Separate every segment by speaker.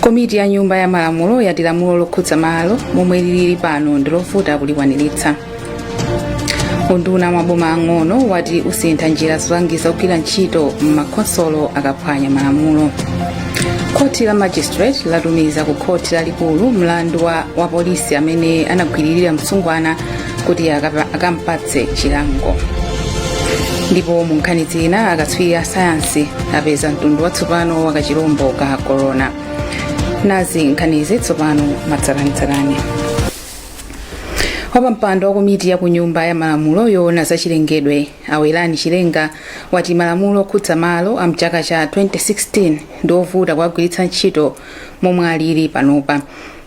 Speaker 1: komiti ya nyumba ya malamulo yati lamulo lokhudza malo momwe lilili pano ndi lovuta kulikwaniritsa unduna wa maboma ang'ono wati usintha njira zolangiza ogwira ntchito m'makhonsolo akaphwanya malamulo khoti la magistrate latumiza ku khoti lalikulu mlandu wa wapolisi amene anagwiririra msungwana kuti akapa- akampatse chilango ndipo mu nkhani zina akatswiri a sayansi apeza mtundu watsopano wa kachilombo ka korona nazi nkhanizi tsopano mwatsatanetsatane wapampando wa komiti ya kunyumba ya malamulo yoona za chilengedwe awerani chilenga wati malamulo okhudza malo a mchaka cha 2016 ndi ovuta kuwagwiritsa ntchito momwe alili panopa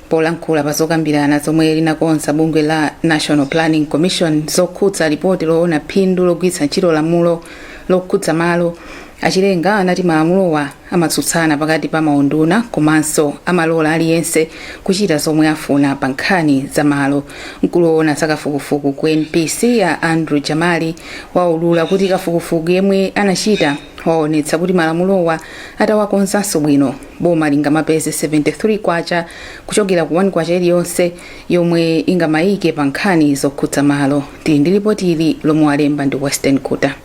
Speaker 1: polankhula pa zokambirana zomwe linakonza bungwe la national planning commission zokhudza lipoti loona phindu logwiritsa ntchito lamulo lokhudza malo achilenga anati malamulowa amatsutsana pakati pa maunduna komanso amalola aliyense kuchita zomwe afuna pa nkhani za malo mkulu woona za kafukufuku ku npc a andrew jamali waulula kuti kafukufuku yemwe anachita waonetsa kuti malamulowa atawakonzanso bwino boma lingamapeze 73 kwacha kuchokera ku 1 kwacha iliyonse yomwe ingamayike pa nkhani zokhudza malo tili ndi lipoti ili lomwe walemba ndi western guta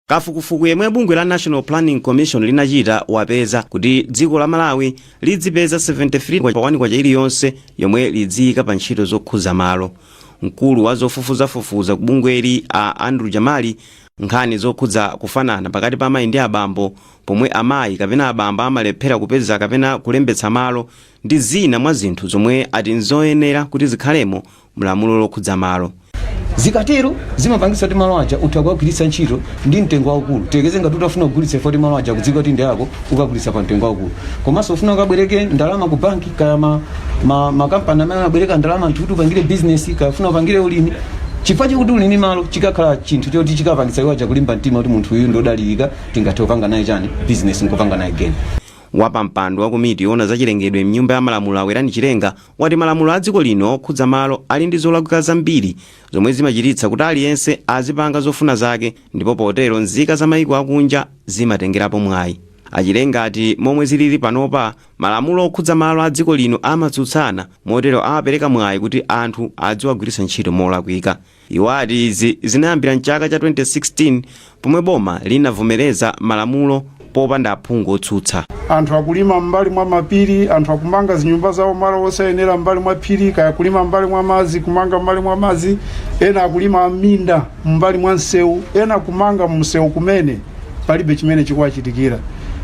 Speaker 2: kafukufuku yemwe bungwe la national planning commission linachita wapeza kuti dziko la malawi lidzipeza 73 pa 1 kwacha iliyonse yomwe lidziyika pa ntchito zokhudza malo mkulu wa zofufuzafufuza ku bungweli a andrew jamali Nkhani zokhudza kufanana pakati pa amayi ndi abambo, pomwe amayi kapena abambo amalephera kupeza kapena kulembetsa malo, ndi zina mwa zinthu zomwe ati n'zoyenera kuti zikhalemo m'lamulo lokhudza malo. Zikatero,
Speaker 3: zimapangitsa kuti malo aja utha kuwagwiritsa ntchito ndi mtengo waukulu. Tiyerekeze ngati utafuna kugulitsa chifukwa kuti malo aja akudziwika kuti ndi ako, ukagulitsa pa mtengo waukulu. Komanso ufuna ukabwereke ndalama ku bank. kaya ma, ma, makampani amene amabwereka ndalama anthu kuti upangire bizinesi kaya ufuna upangire ulimi chifukwa chakuti uli ndi malo chikakhala chinthu choti chikapangitsa iwo aja kulimba mtima kuti munthu uyu ndodalirika tingathe kupanga naye chani bizinesi nkupanga naye geni wapampando wa
Speaker 2: komiti yoona za chilengedwe mnyumba ya malamulo awerani chilenga wati malamulo a dziko lino okhudza malo ali ndi zolakwika zambiri zomwe zimachititsa kuti aliyense azipanga zofuna zake ndipo potero nzika za mayiko akunja zimatengerapo mwayi achilenga ati momwe zilili panopa Malamulo okhudza malo a dziko lino amatsutsana, motero amapereka mwayi kuti anthu adziwagwiritsa ntchito molakwika. Iwo ati izi zinayambira m'chaka cha 2016 pomwe boma linavomereza malamulo popanda aphungu otsutsa. Anthu akulima
Speaker 4: m'mbali mwa mapiri, anthu akumanga zinyumba zawo malo osayenera m'mbali mwa phiri, kaya kulima m'mbali mwa madzi, kumanga m'mbali mwa madzi, ena akulima m'minda m'mbali mwa msewu, ena kumanga mumsewu kumene. palibe chimene chikuwachitikira.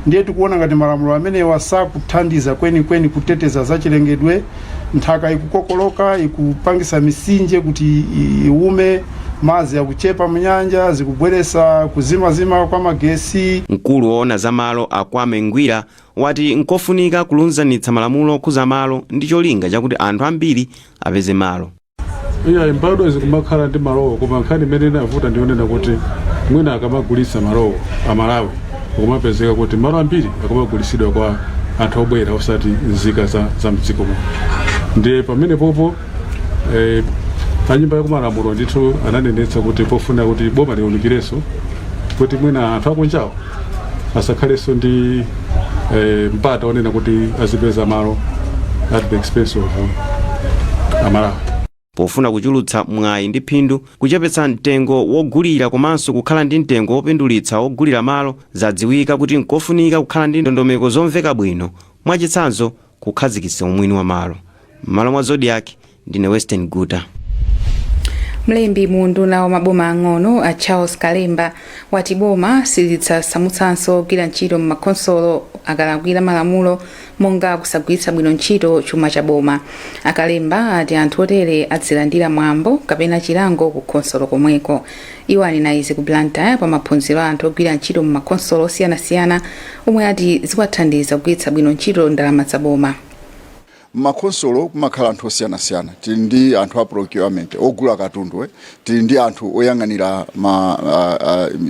Speaker 4: Ndiye tikuona ngati malamulo amenewa sakuthandiza kwenikweni kuteteza zachilengedwe. Nthaka ikukokoloka, ikupangisa misinje kuti iwume, madzi akuchepa munyanja, zikubweresa kuzimazima kwa magesi. Mkulu woona
Speaker 2: za malo a Kwame Ngwira wati nkofunika kulunzanitsa malamulo okhuza malo ndi cholinga chakuti anthu ambiri apeze malo. iyayi
Speaker 5: mbadwa zikumakhala ndi malowo koma nkhani imene inavuta ndiyonena kuti mwina akamagulitsa malowo amalawi akumapezeka kuti malo ambiri akumagulitsidwa kwa anthu obwera osati nzika za, za mdziko muno ndiye pamene popo eh, anyumba yakumalamulo ndithu ananenetsa kuti pofunika kuti boma liunikirenso kuti mwina anthu akunjawo asakhalenso ndi eh, mpata onena kuti azipeza malo at the expense of amalawi pofuna
Speaker 2: kuchulutsa mwayi ndi phindu kuchepetsa mtengo wogulira komanso kukhala ndi mtengo wopindulitsa wogulira malo zadziwika kuti nkofunika kukhala ndi ndondomeko zomveka bwino mwachitsanzo kukhazikitsa umwini wa malo m'malo mwa zodiak ndine western
Speaker 1: guta mlembi mu unduna wa maboma ang'ono a charles kalemba wati boma silidzasamutsanso ogwira ntchito m'makhonsolo akalakwira malamulo monga kusagwiritsa bwino ntchito chuma cha boma a kalemba ati anthu otere adzilandira mwambo kapena chilango ku khonsolo komweko Iwo anena izi ku Blantyre pa maphunziro a anthu ogwira ntchito mu makhonsolo osiyanasiyana omwe ati ziwathandiza kugwiritsa bwino ntchito ndalama za boma.
Speaker 6: M'makhonsolo kumakhala anthu osiyanasiyana. Tili ndi anthu a procurement, ogula katundu, tili ndi anthu oyang'anira ma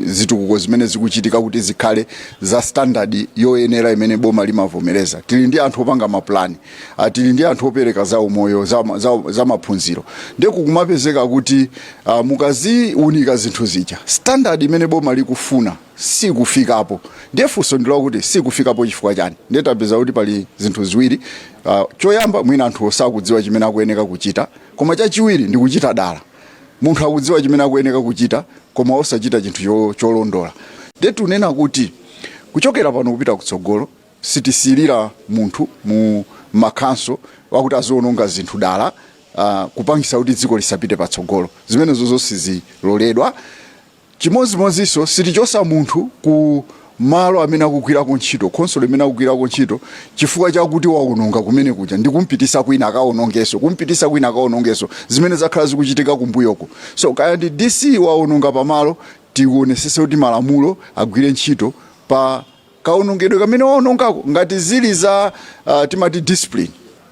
Speaker 6: zitukuko zimene zikuchitika kuti zikhale za standard yoyenera imene boma limavomereza, tili ndi anthu opanga mapulani, a tili ndi anthu opereka za umoyo za, ma- za, za maphunziro ndiye kukumapezeka kuti uh, mukaziunika zinthu zija standard imene boma likufuna sikufikapo ndiye funso ndi lakuti sikufikapo chifukwa chani ndiye tapeza kuti pali zinthu ziwiri uh, choyamba mwina anthu sakudziwa chimene akuyeneka kuchita koma chachiwiri ndi kuchita dala munthu akudziwa chimene akuyeneka kuchita koma osachita chinthu cho- cholondola ndiye tunena kuti kuchokera pano kupita kutsogolo Sitisekelera munthu mu ma council wakuti aziononga zinthu dala kupangisa kuti dziko lisapite patsogolo zimenezozo siziloledwa chimodzimodzinso sitichosa munthu ku malo amene akugwirako ntchito, khonsolo imene akugwirako ntchito chifukwa chakuti waononga kumene kuja ndikumpitisa kwina akaonongeso kumpitisa kwina akaonongeso zimene zakhala zikuchitika kumbuyoku so kaya ndi DC waononga pamalo tionesese kuti malamulo agwire ntchito pa kaonongedwe kamene waonongako ngati zili za uh, timati discipline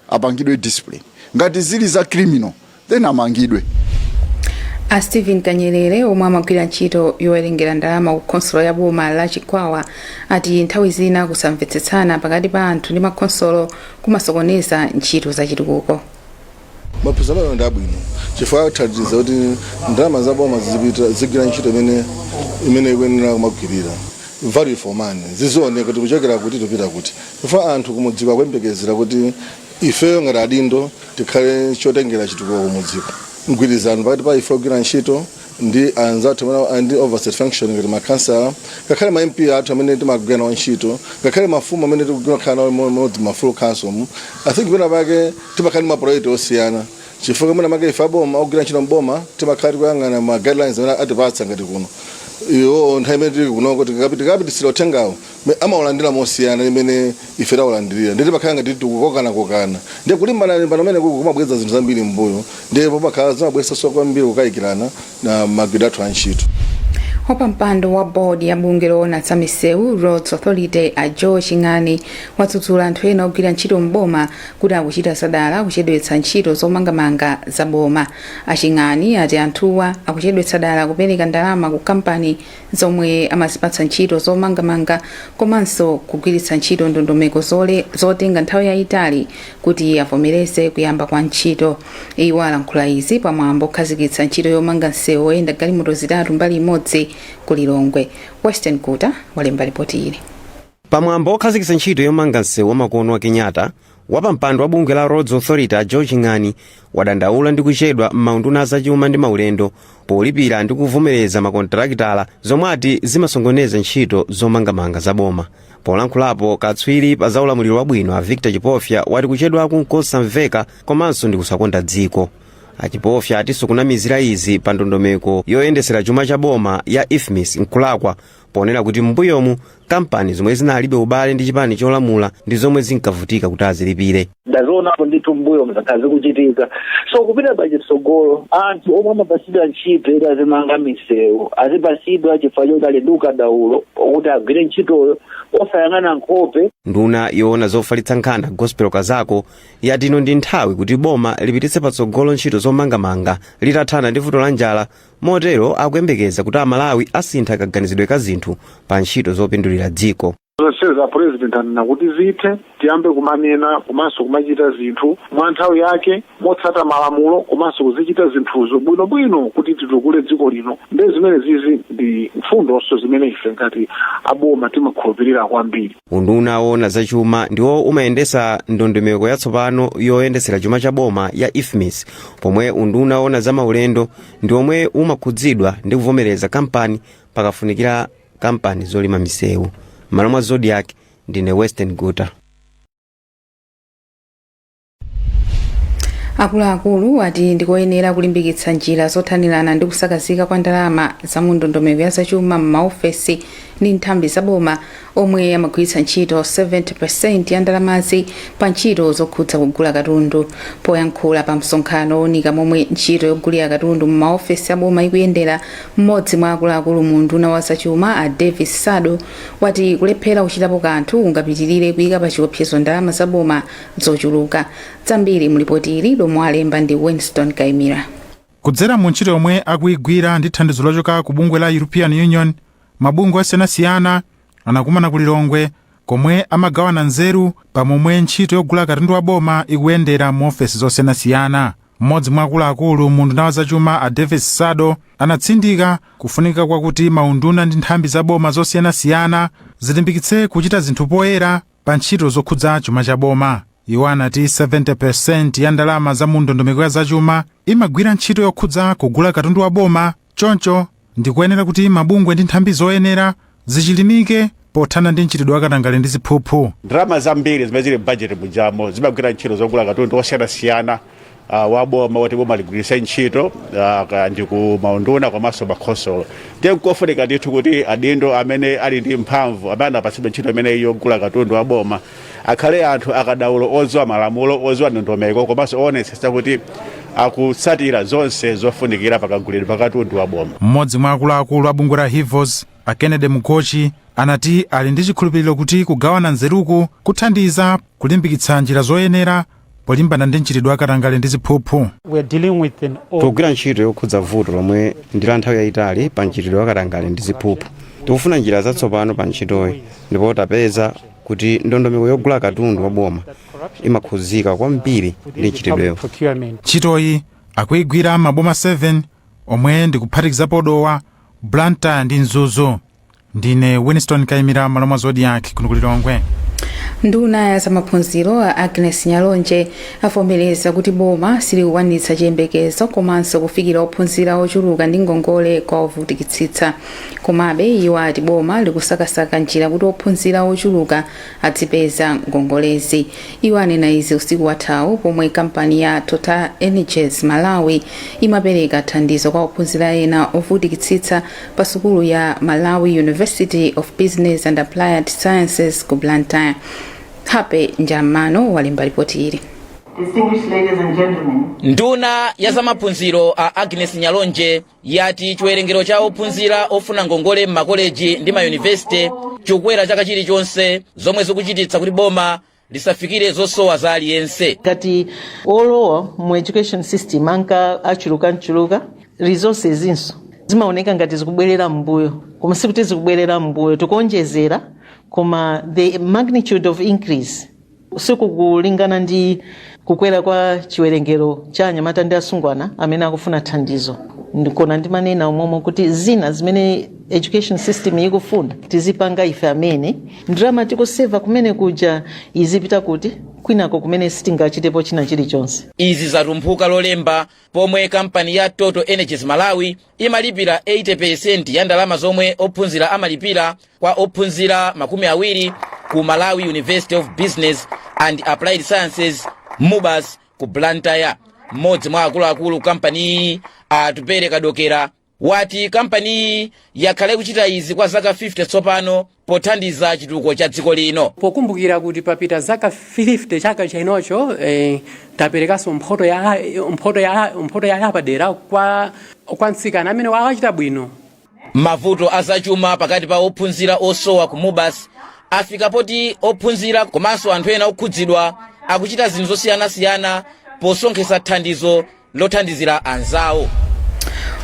Speaker 6: apangidwe discipline ngati zili za criminal then amangidwe
Speaker 1: a stephen kanyerere omwe amagwira ntchito yowerengera ndalama ku khonsolo ya boma la chikwawa ati nthawi zina kusamvetsetsana pakati pa anthu ndi makhonsolo kumasokoneza ntchito za chitukuko
Speaker 7: maphunziro amene ndi abwino chifukwa athandiza kuti ndalama za boma zizigwira ntchito imene ikuyenera kumagwirira value for money zizioneka kuti kuchokera kuti tikupita kuti chifukwa anthu kumudziko akuyembekezera kuti ifeyo ngati adindo tikhale chotengera chitukuko kumudziko mgwirizano pakati pa ife ogwira ntchito ndi anzathu a ndi oversight function ngati makhansala ngakhale ma mp athu amene timagwira nawo ntchito ngakhale mafumu amene tikukhala nawo mmodzi ma full council mu i think pena pake timakhala ndi maprojekti osiyana chifukwa mwina make ife aboma ogwira ntchito mboma timakhala tikuyang'ana ma guidelines amene atipatsa ngati kuno iwo nthawi imene tili kunoko tikapititsa uthengawo amaulandira mosiyana ndi mmene ife taulandirira ndiye timakhala ngati tikukokanakokana ndiye kulimbanalimbana kumene kuja kumabweza zinthu zambiri m'mbuyo ndiye pamakhala zimabweretsanso kwambiri kukayikirana na magwiridwe athu a ntchito wapampando
Speaker 1: wa bodi ya bungwe loona za misewu roads authority a joe ching'ani wadzudzula anthu ena ogwira ntchito m'boma kuti akuchita zadala kuchedwetsa ntchito zomangamanga za boma a ching'ani ati anthuwa akuchedwetsa dala kupereka ndalama ku kampani zomwe amazipatsa ntchito zomangamanga komanso kugwiritsa ntchito ndondomeko zotenga nthawi yayitali kuti avomereze kuyamba kwa ntchito iwo alankhula izi pamwambo okhazikitsa ntchito yomanga msewu oyenda galimoto zitatu mbali imodzi ku lilongwe western kuta walemba lipoti ili pamwambo
Speaker 2: okhazikitsa ntchito yomanga msewu wamakono wa kenyatta wapampando wa bungwe la roads authority a joe ching'ani wadandaula ndi kuchedwa m'maunduna azachuma ndi maulendo polipira ndi kuvomereza makontarakitala zomwe ati zimasongoneza ntchito zomangamanga za boma polankhulapo katswiri pa za ulamuliro wabwino a victor chipofya wati kuchedwaku nkosamveka komanso ndi kusakonda dziko achipofya atinso kunamizira izi pa ndondomeko yoyendesera chuma cha boma ya ifmis nkulakwa ponena kuti m'mbuyomu kampani zomwe zinalibe ubale ndi chipani cholamula ndi zomwe zinkavutika kuti azilipire ndazionapo
Speaker 8: ndithu m'mbuyomu zakhala zikuchitika so kupita pachitsogolo anthu omwe amapasidwa ntchito kuti azimanga misewu azipasidwa chifukwa choti ali ndi ukadaulo kuti agwire ntchitoyo osayang'ana nkhope nduna
Speaker 2: yoona zofalitsa nkhani gospel kazako yati ino ndi nthawi kuti boma lipititse patsogolo ntchito zomangamanga litathana ndi vuto la njala Motero akuyembekeza kuti Amalawi asintha kaganizidwe ka zinthu pa ntchito zopindulira dziko. Zonse za a
Speaker 5: president anena kuti zithe tiyambe kumanena komanso kumachita zinthu mwa nthawi yake motsata malamulo komanso kuzichita zinthuzo bwinobwino kuti titukule dziko lino nde zimene zizi ndi mfundonso zimene ife ngati aboma timakhulupirira kwambiri Unduna woona za
Speaker 2: chuma ndiwo umayendetsa ndondomeko yatsopano yoyendetsera chuma cha boma ya IFMIS pomwe unduna woona za maulendo ndi omwe umakhudzidwa ndi kuvomereza kampani pakafunikira kampani zolima misewu m'malo mwa Zodiak ndine Western Guta
Speaker 1: akuluakulu ati ndikoyenera kulimbikitsa njira zothanirana ndi kusakazika kwa ndalama za mu ndondomeko ya zachuma m'maofesi ndi nthambi zaboma omwe amagwiritsa ntchito 70% ya ndalamazi pa ntchito zokhudza kugula katundu. Poyankhula pa msonkhano owunika momwe ntchito yogulira katundu mu maofesi a boma ikuyendera, mmodzi mwa akuluakulu mu unduna wa zachuma a Davis Sado wati kulephera kuchitapo kanthu kungapitilire kuika pa chiopsezo ndalama za boma zochuluka. Zambiri mu lipoti ili lomwe walemba ndi Winston Kaimira. Kudzera mu
Speaker 9: ntchito yomwe akuigwira ndi thandizo lochoka ku bungwe la European Union, Mabungwe osiyanasiyana anakumana ku Lilongwe komwe amagawana nzeru pa momwe ntchito yogula katundu wa boma ikuyendera mu ofesi zosiyanasiyana. Mmodzi mwa akuluakulu mu unduna wa zachuma a Davis Sado anatsindika kufunika kwakuti maunduna ndi nthambi za boma zosiyanasiyana zilimbikitse kuchita zinthu poyera pa ntchito zokhudza chuma cha boma. Iwo anati 70% ya ndalama za mu ndondomeko ya zachuma imagwira ntchito yokhudza kugula katundu wa boma Choncho, ndi koyenera kuti mabungwe ndi nthambi zoyenera zichilimike pothana ndi mchitidwe wa katangale ndi ziphuphu. Ndalama zambiri zimene
Speaker 10: zili m'bajeti mujamo zimagwira ntchito zogula katundu wosiyanasiyana uh, wa boma woti boma ligwiritse ntchito uh, ndi ku maunduna komanso makhonsolo. Ndiye nkofunika ndithu kuti adindo amene ali ndi mphamvu amene anapatsidwa ntchito imeneyi yogula katundu wa boma akhale anthu akadaulo odziwa malamulo odziwa ndondomeko komanso owonetsetsa kuti akutsatira zonse zofunikira pakagulidwe pakatundu wa boma mmodzi mwa akuluakulu
Speaker 9: a bungwe la hivos a kennedy mugochi anati ali ndi chikhulupiriro kuti kugawana nzeruku kuthandiza kulimbikitsa njira zoyenera polimbana ndi mchitidwe wa katangale ndi
Speaker 2: ziphuphu tikugwira ntchito yokhudza vuto lomwe ndi la nthawi yayitali pa mchitidwe wa katangale ndi ziphuphu tikufuna njira zatsopano pa ntchitoyi ndipo tapeza kuti ndondomeko yogula katundu wa boma imakhudzika kwambiri ndi mchitidwewu ntchitoyi
Speaker 9: akuyigwira m'maboma 7 omwe ndi kuphatikizapo dowa blantyre ndi mzuzu ndine winston kaimira malo mwa zodiac kuno ku lilongwe
Speaker 1: nduna ya zamaphunziro a agnes nyalonje avomereza kuti boma silikukwanitsa chiyembekezo komanso kufikira ophunzira ochuluka ndi ngongole kwa ovutikitsitsa komabe iwo ati boma likusakasaka njira kuti ophunzira ochuluka adzipeza ngongolezi iwo anena izi usiku wathawu pomwe kampani ya total energies malawi imapereka thandizo kwa ophunzira ena ovutikitsitsa pa sukulu ya malawi university of business and applied sciences ku blantyre happy njamano walemba lipoti ili
Speaker 11: nduna ya zamaphunziro a agnes nyalonje yati chiwerengero cha ophunzira ofuna ngongole m'makoleji ndi mayunivesite chikukwera chaka chilichonse zomwe zikuchititsa kuti boma lisafikire zosowa za aliyense
Speaker 12: ngati olowa mu education system anka achulukachuluka resources inso zimaoneka ngati zikubwerera m'mbuyo koma sikuti zikubwerera m'mbuyo tikuonjezera koma the magnitude of increase sikukulingana ndi kukwera kwa chiwerengero cha anyamata ndi asungwana amene akufuna thandizo ndikona ndimanena umomo kuti zina zimene education system ikufuna tizipanga ife amene ndalama tikuseva kumene kuja izipita kuti kwinako kumene sitingachitepo china chilichonse izi zatumphuka
Speaker 11: lolemba pomwe kampani ya total energies malawi imalipira 80 peresenti ya ndalama zomwe ophunzira amalipira kwa ophunzira makumi awiri ku malawi university of business and applied sciences mubas ku blantyre mmodzi mwa akuluakulu kampaniyi atupere kadokera wati kampaniyi yakhala ikuchita izi kwa zaka 50 tsopano pothandiza chitukuko cha dziko lino. pokumbukira kuti
Speaker 13: papita zaka 50 chaka chinocho eh, taperekanso mphoto ya yapadera kwa mtsikana amene wachita bwino
Speaker 11: mavuto azachuma pakati pa ophunzira osowa ku mubas afika poti ophunzira komanso anthu ena okhudzidwa akuchita zinthu zosiyanasiyana posonkhetsa thandizo lothandizira
Speaker 1: anzawo.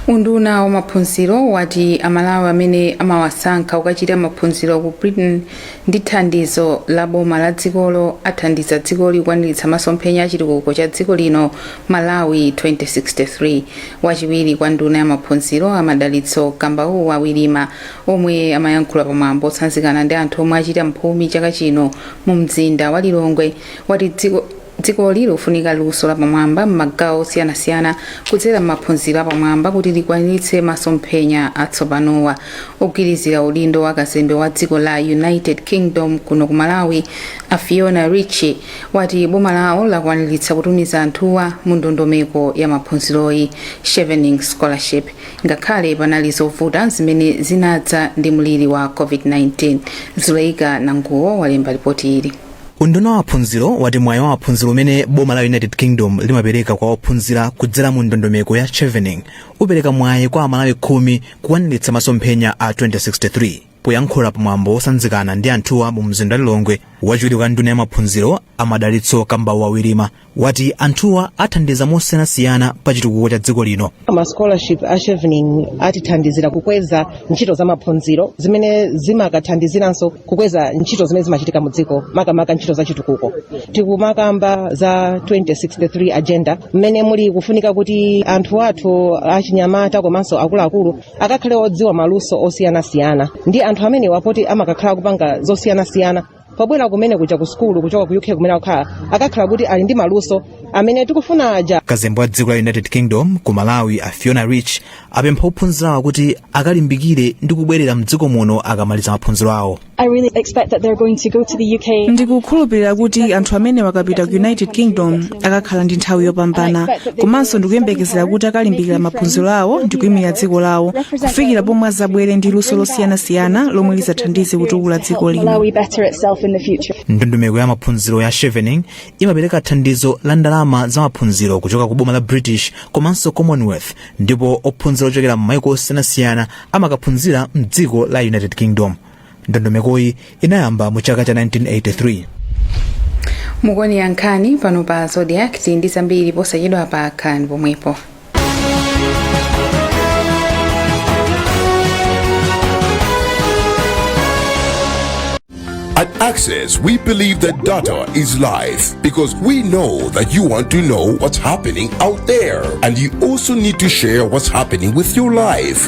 Speaker 1: Unduna wa maphunziro wati Amalawi amene amawasankha ukachita maphunziro ku Britain ndi thandizo la boma la dzikolo athandiza dzikoli kukwaniritsa masomphenya a chitukuko cha dziko lino Malawi 2063. Wachiwiri kwa nduna ya maphunziro a Madalitso Kambauwa Wirima omwe amayankhula pamwambo otsanzikana ndi anthu omwe achita mphumi chaka chino mu mzinda wa Lilongwe wati dziko dzikoli likufunika luso lapamwamba m'magawo osiyanasiyana kudzera m'maphunziro apamwamba kuti likwaniritse masomphenya atsopanowa ogwirizira udindo wa kazembe wa dziko la united kingdom kuno ku malawi a fiona ritchie wati boma lawo lakwaniritsa kutumiza anthuwa mu ndondomeko ya maphunziroyi chevening scholarship ngakhale panali zovuta zimene zinadza ndi mliri wa covid-19 zuleika nanguwo walemba lipoti ili Unduna wa maphunziro
Speaker 14: wati mwayi wa maphunziro umene boma la United Kingdom limapereka kwa ophunzira kudzera mu ndondomeko ya Chevening upereka mwayi kwa Amalawi khumi kukwaniritsa masomphenya a 2063. Poyankhula pa mwambo wosanzikana ndi anthuwa mu mzinda wa Lilongwe, wachiwiri kwa nduna ya maphunziro a Madalitso Kambauwa Wirima wati anthuwa athandiza mosiyanasiyana pa chitukuko cha dziko lino ma scholarship a
Speaker 15: chevening atithandizira kukweza ntchito za maphunziro zimene zimakathandiziranso kukweza ntchito zimene zimachitika mu dziko makamaka ntchito za chitukuko tikumakamba za 2063 agenda mmene muli kufunika kuti anthu athu achinyamata komanso akuluakulu akakhale odziwa maluso osiyanasiyana ndi anthu amenewa poti amakakhala akupanga zosiyanasiyana pobwera kumene kuja ku sukulu kuchoka ku uk kumene akukhala akakhala kuti ali ndi maluso amene tikufuna aja kazembe wa dziko la united
Speaker 14: kingdom ku malawi a fiona ritchie apempha ophunzirawa kuti akalimbikire ndi kubwerera mdziko muno akamaliza maphunziro awo I really expect that they're going to go to the UK.
Speaker 16: ndikukhulupirira kuti anthu amenewa akapita ku united kingdom akakhala ndi nthawi yopambana komanso ndikuyembekezera kuti akalimbikira maphunziro awo ndi kuimilira dziko lawo kufikira pomwe azabwere ndi luso losiyanasiyana lomwe lizathandize kutukula dziko lino
Speaker 14: ndondomeko ya maphunziro ya chevening imapereka thandizo la ndalama za maphunziro kuchoka ku boma la british komanso commonwealth ndipo ophunzira ochokera m'maiko osiyanasiyana amakaphunzira mdziko la united kingdom ndondomekoyi inayamba mu chaka cha
Speaker 1: 1983 mukuonera nkhani pano pa zodiak tili ndi zambiri posachedwapa khalani pomwepo
Speaker 17: At Access, we believe that data is life because we know that you want to know what's happening out there and you also need to share what's happening with your life.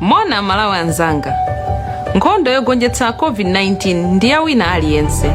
Speaker 18: Moni amalawi anzanga nkhondo yogonjetsa covid 19 ndi ya wina aliyense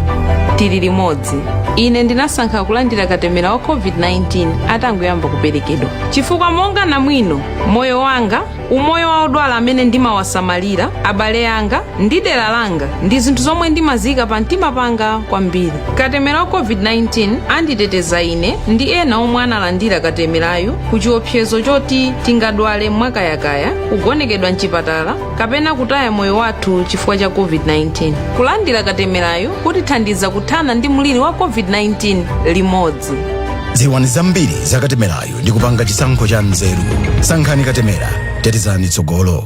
Speaker 18: tili limodzi ine ndinasankha kulandira katemera wa covid 19 atangoyamba kuperekedwa chifukwa monga namwino moyo wanga umoyo wa odwala amene ndimawasamalira abale anga ndi dera langa ndi zinthu zomwe ndimaziika pa mtima panga kwambiri katemera wa covid 19 anditeteza ine ndi ena omwe analandira katemerayu ku chiopsezo choti tingadwale mwakayakaya kugonekedwa mchipatala kapena kutaya moyo wathu chifukwa cha covid-19 kulandira katemerayo kutithandiza kuthana ndi mliri wa covid-19 limodzi dziwani
Speaker 19: zambiri za katemerayo ndi kupanga chisankho cha nzeru sankhani katemera tetezani tsogolo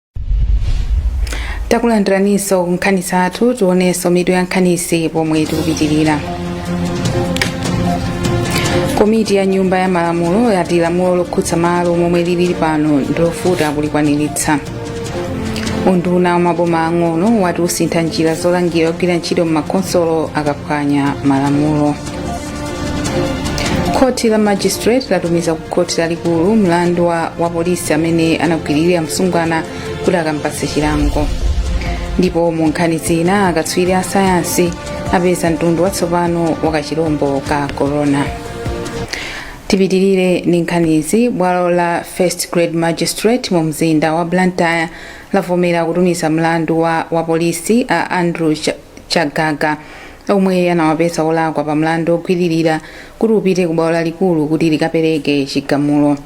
Speaker 1: takulandiraninso ku nkhani zathu tionenso mitu ya nkhanizi pomwe tikupitirira komiti ya nyumba ya malamulo yati lamulo lokhudza malo momwe lili pano ndilovuta kulikwaniritsa unduna wa maboma ang'ono wati usintha njira zolangira ogwira ntchito m'makhonsolo akaphwanya malamulo khoti la magistrate latumiza ku khoti lalikulu mlandu wa wapolisi amene anagwiririra msungwana kuti akampatse chilango ndipo mu nkhani zina akatswiri a sayansi apeza mtundu watsopano wa kachilombo ka corona tipitirire ndi nkhanizi bwalo la first grade magistrate mu mzinda wa blantyre lavomera kutumiza mlandu wa wapolisi a andrew chagaga omwe anawapeza olakwa pa mlandu ogwiririra kuti upite ku bwalo lalikulu kuti likapereke chigamulo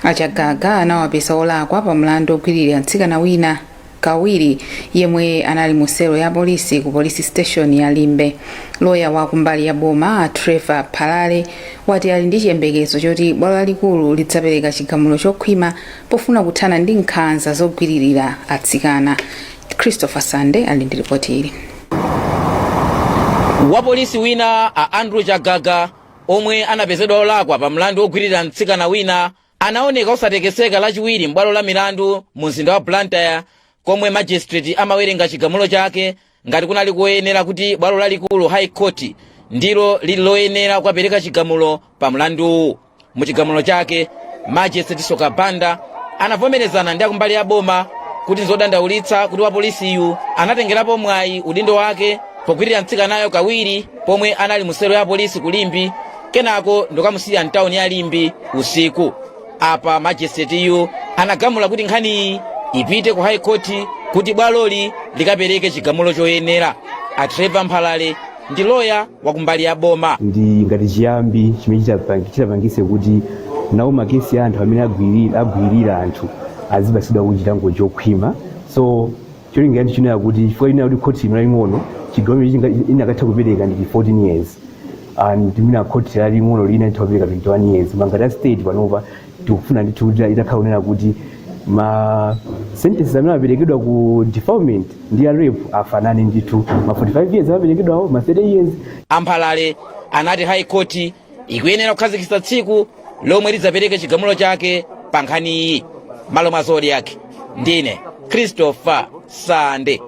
Speaker 1: a chagaga anawapeza olakwa pa mlandu ogwiririra mtsikana wina kawiri yemwe anali mu selo ya polisi ku police station ya limbe loya wa kumbali ya boma a trevor mphalale wati ali ndi chiyembekezo choti bwalo lalikulu lidzapereka chigamulo chokhwima pofuna kuthana ndi nkhanza zogwiririra atsikana christopher sande ali ndi ripoti ili
Speaker 11: wapolisi wina a andrew chagaga omwe anapezedwa olakwa pa mlandu wogwirira mtsikana wina anaoneka osatekeseka lachiwiri m'bwalo la milandu mu mzinda wa blantyre komwe magistrate amawerenga chigamulo chake ngati kunali koyenera kuti bwalo lalikulu high court ndilo lili loyenera kukapereka chigamulo pa mlanduwu Mu chigamulo chake, Magistrate Soka Banda anavomerezana ndi akumbali ya boma kuti nzodandaulitsa kuti wapolisiyu anatengerapo mwayi udindo wake pogwirira mtsikanayo kawiri pomwe anali mu selo ya polisi ku Limbe kenako ndikukamusiya mtawuni ya Limbe usiku. Apa magistrateyu anagamula kuti nkhaniyi ipite ku high court kuti bwaloli likapereke chigamulo choyenera. A Trevor Mphalale ndi loya wa kumbali ya boma ndi ngati
Speaker 4: chiyambi chimene chitapang- chitapangise kuti nawo makesi a anthu amene agwiri- agwirira anthu azipatsidwa chilango chokhwima so cholinga chathu chinali kuti chifukwa lina kuti khoti ino laling'ono chigamulo inakatha kupereka ndi 14 years and mwina khoti laling'ono lina itha kupereka 21 years ma ngati a state panopa tikufuna ndithu kuti itakhala kunena kuti ma sentences amene amaperekedwa ku defilement ndi ya rape afanane ndithu ma 45 years amaperekedwawo ma 30 years amphalale
Speaker 11: anati high court ikuyenera kukhazikitsa tsiku lomwe lidzapereke chigamulo chake pa nkhaniyi malo mwa Zodiak ndine christopher sande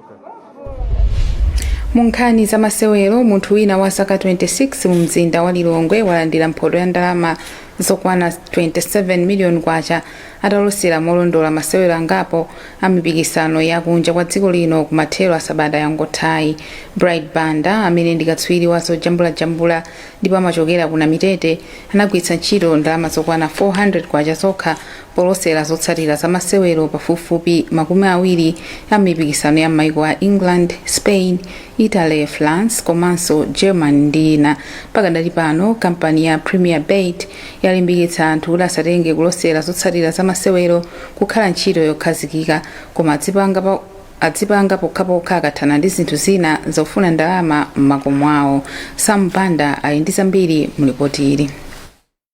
Speaker 1: mu nkhani za masewero munthu wina wa zaka 26 mu mzinda wa lilongwe walandira mphoto ya ndalama zokwana 27 miliyoni kwacha atalosera molondola masewero angapo a mipikisano ya kunja kwa dziko lino ku mathero a sabata yangothayi bright banda amene ndi katswiri wa zojambulajambula ndipo amachokera ku namitete anagwiritsa ntchito ndalama zokwana 400 kwacha zokha Polosera zotsatira za masewero pafupifupi makumi awiri a mipikisano ya m'maiko a England, Spain, Italy, France komanso Germany ndi ina, pakadali pano kampani ya Premier Bet yalimbikitsa anthu kuti asatenge kulosera zotsatira za masewero kukhala ntchito yokhazikika koma adzipanga pokhapokha akathana ndi zinthu zina zofuna ndalama m'makomo awo. Sam Banda ali ndi zambiri mu lipoti ili.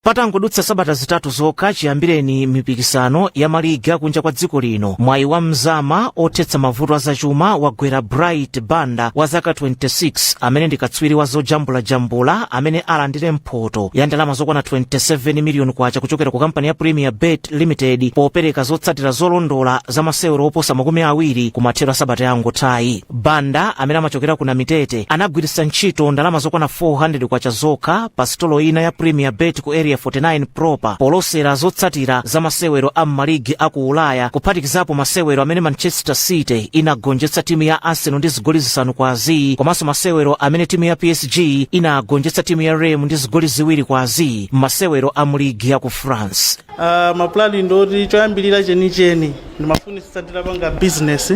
Speaker 1: patangodutsa
Speaker 20: sabata zitatu zokha chiyambireni mipikisano ya maligi akunja kwa dziko lino mwayi wa mzama othetsa mavuto azachuma wagwera bright banda wa zaka 26 amene ndi katswiri wa zojambulajambula amene alandire mphoto ya ndalama zokwana 27 miliyoni kwacha kuchokera ku kampani ya premier bet limited popereka zotsatira zolondola za masewero oposa makumi awiri kumathero a sabata yangothayi Banda amene amachokera ku Namitete anagwiritsa ntchito ndalama zokwana 400 kwacha zokha pa sitolo ina ya Premier Bet ku Area 49 proper polosera zotsatira za masewero a m'maligi a ku Ulaya kuphatikizapo masewero amene Manchester City inagonjetsa timu ya Arsenal ndi zigoli zisanu kwa azii komanso masewero amene timu ya PSG inagonjetsa timu ya Reims ndi zigoli ziwiri kwa azii m'masewero a mu ligi ya ku France. Uh, mapulani
Speaker 6: ndoti choyambirira chenicheni ndimafunitsitsa nditapanga business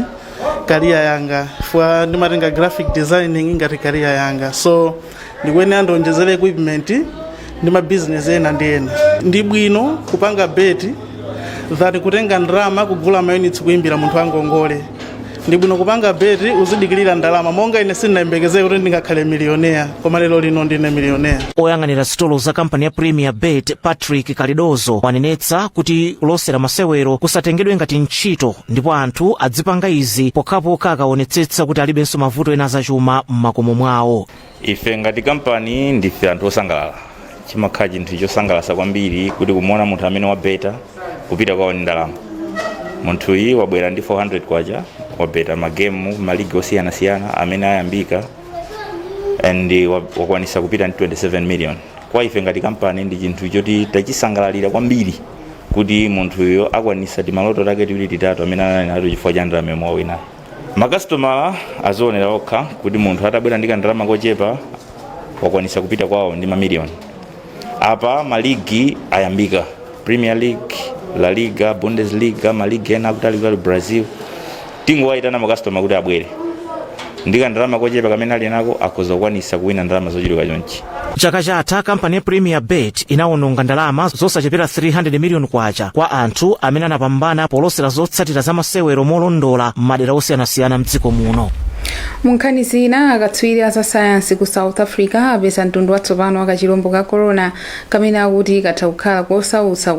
Speaker 6: kariya yanga fwa ndimatenga graphic designing ngati kariya yanga so ndikuyenera ndionjezere equipment ndi mabizinesi ena ndi ena ndi bwino kupanga beti than kutenga ndalama kugula mayunitsi kuimbira munthu angongole ndi bwino kupanga beti uzidikirira ndalama monga ine sindinayembekezere kuti ndingakhale miliyonea koma lero lino ndine miliyonea oyang'anira sitolo za
Speaker 20: kampani ya premier bet patrick kalidozo wanenetsa kuti kulosera masewero kusatengedwe ngati ntchito ndipo anthu adzipanga izi pokhapokha akaonetsetsa kuti alibenso mavuto ena azachuma m'makomo mwawo ife
Speaker 7: ngati kampani ndife anthu osangalala chimakhala chinthu chosangalasa kwambiri kuti kumuona munthu amene wabeta kupita kwawo ndi ndalama munthu uyu wabwera ndi 400 kwacha wabeta magemu maligi osiyanasiyana amene ayambika and wa- wakwanisa kupita ndi 27 million kwa ife ngati kampani ndi chinthu choti tachisangalalira kwambiri kuti munthuyo akwanisa timaloto take tiwiri titatu amene anali nato chifukwa cha ndalama yomwe wawinayo makasitoma azionera okha kuti munthu atabwera ndi kandalama kochepa wakwanisa kupita kwawo ndi mamiliyoni apa maligi ayambika premier league la liga bundesliga maligi ena akutalikutali brazil tingowayitana makasitoma kuti abwere ndi kandalama kochepa kamene ali nako akhoza kukwanisa kuwina ndalama zochuluka chonchi chaka
Speaker 20: chatha kampani ya premier bet inawononga ndalama zosachepera 300 miliyoni kwacha kwa anthu amene anapambana polosera zotsatira za masewero molondola m'madera osiyanasiyana mdziko muno munkhani
Speaker 1: zina akatswiri a za sayansi ku south africa apeza mtundu watsopano wa kachilombo ka corona kamene akuti katha kukhala kosautsa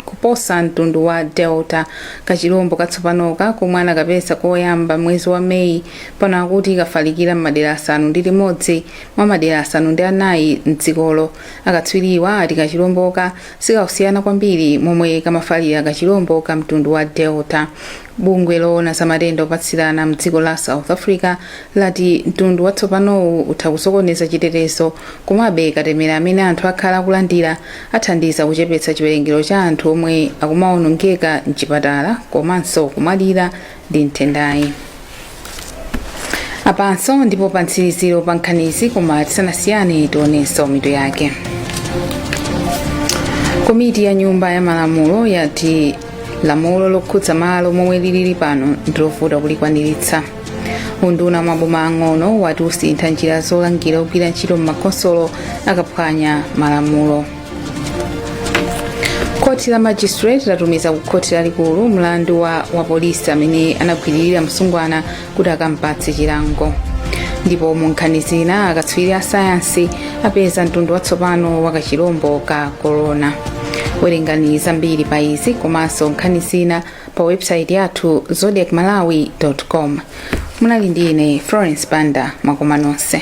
Speaker 1: kuposa mtundu wa delta kachilombo katsopanoka komwe anakapeza koyamba mwezi wa meyi pano akuti kafalikira m'madera asanu ndi limodzi mwa madera asanu ndi anayi mdzikolo akatswiriwa ati kachilomboka sikakusiyana kwambiri ndi momwe kamafalira kachilombo ka mtundu wa delta bungwe loona za matenda opatsirana mdziko la south africa lati mtundu watsopanowu utha kusokoneza chitetezo komabe katemera amene anthu akhala akulandira athandiza kuchepetsa chiwerengero cha anthu omwe akumagonekedwa mchipatala komanso kumwalira ndi nthendayi apanso ndipo pa mtsiriziro pa nkhanizi koma tisanasiyane tionenso mitu yake komiti ya nyumba ya malamulo yati lamulo lokhudza malo momwe lilili pano ndilovuta kulikwaniritsa unduna wa maboma ang'ono wati usintha njira zolangira ogwira ntchito m'makhonsolo akaphwanya malamulo khoti la magistrate latumiza ku khoti lalikulu mlandu wa wapolisi amene anagwiririra msungwana kuti akampatse chilango ndipo mu nkhani zina akatswiri a sayansi apeza mtundu watsopano wa kachirombo ka korona werengani zambiri pa izi komanso nkhani zina pa websaiti yathu zodiac malawi com munali ndi ine florence banda mwakoma nonse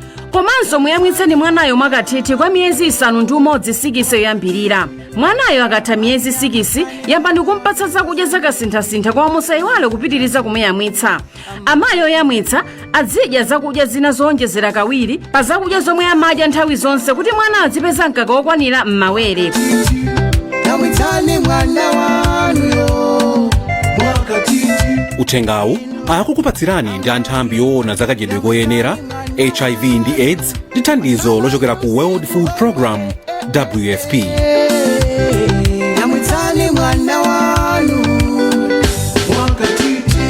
Speaker 8: komanso muyamwitseni mwanayo mwakathithi kwa miyezi isanu ndi umodzi sikisi yoyambirira mwanayo akatha miyezi sikisi yambani kumpatsa zakudya zakasinthasintha koma musayiwale kupitiriza kumuyamwitsa amayi oyamwitsa azidya zakudya zina zowonjezera kawiri pa zakudya zomwe amadya nthawi zonse kuti mwana azipeza mkaka wokwanira
Speaker 21: m'mawere yamwitsani mwana wanuyo mwakathithi uthengawu
Speaker 22: akukupatsirani ndi a nthambi yoona zakadyedwe koyenera hiv ndi aids ndi thandizo lochokera ku world food program wfp
Speaker 21: yamwitsani mwana wanu mwakathithi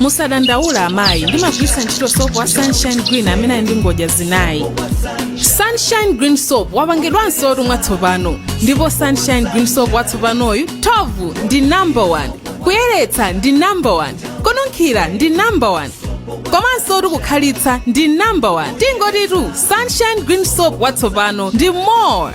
Speaker 2: musadandaula amayi ndimagwiritsa ntchito sopo wa sunshine green amene ali ndi ngodya zinayi sunshine green soap wapangidwansotu mwatsopano ndipo sunshine green soap watsopanoyu thovu ndi number 1 kuyeretsa ndi number 1 kununkhira ndi number 1 komansotu kukhalitsa ndi number 1 tingotitu sunshine green soap watsopano ndi more